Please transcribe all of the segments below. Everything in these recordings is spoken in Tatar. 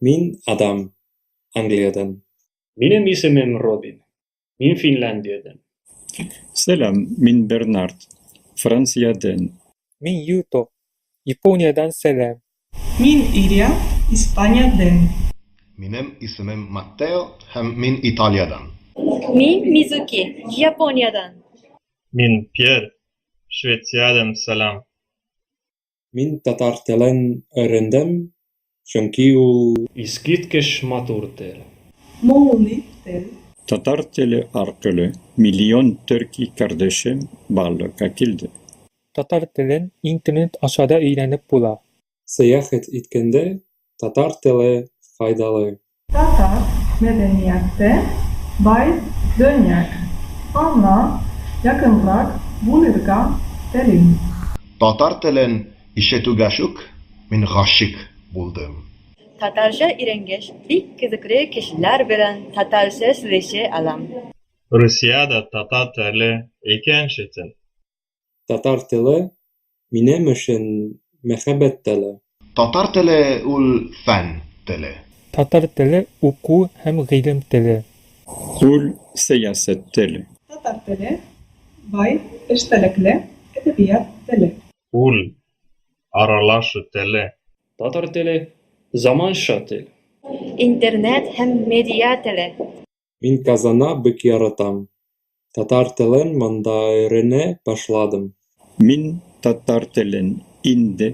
Мин Адам, Англиядән. Минем исемем Робин. Мин Финляндиядән. Сәлам, мин Бернард, Франциядән. Мин Юто, Япониядән сәлам. Мин Иря, Испаниядән. Минем исемем Маттео һәм мин Италиядән. Мин Мизуки, Япониядән. Мин Пьер, Швециядән сәлам. Мин татар телен өйрәндем, чөнки ул. Искиткеч матур тел. Моңлы тел. Татар теле аркылы миллион төрки кардәшем барлыкка килде. Татар телен интернет аша да өйрәнеп була. Сәяхәт иткәндә Татар теле файдалы. Татар мәдәнияте бай дөньяк, аңа якынрак булырга телим. Татар телен ишетүгәшүк мин гашик булдым. Татарча өйрәнгәч, бик кызыклы кешеләр белән татарча сөйләшә алам. Русиядә татар теле икенче тел. Татар теле, минем өчен, мәхәббәт теле. Татар теле ул фән теле. Татар теле уку һәм гыйлем теле. Ул сәясәт теле. Татар теле, бай, эчтәлекле, әдәбият теле. Ул аралашу теле. Татар теле, заманча тел. Интернет һәм медиа теле. Мин казана бик яратам. Татар телен монда өйрәнә башладым. Мин татар телен инде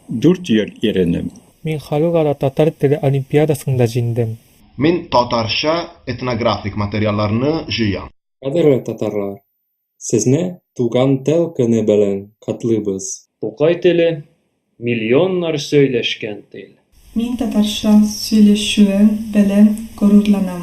дүрт ел өйрәнәм. Мин Халыкара татар теле олимпиадасында җиңдем. Мин татарча этнографик материалларны җыям. Кадерле татарлар! Сезне Туган тел көне белән котлыйбыз! Тукай теле, миллионнар сөйләшкән тел. Мин татарча сөйләшүем белән горурланам.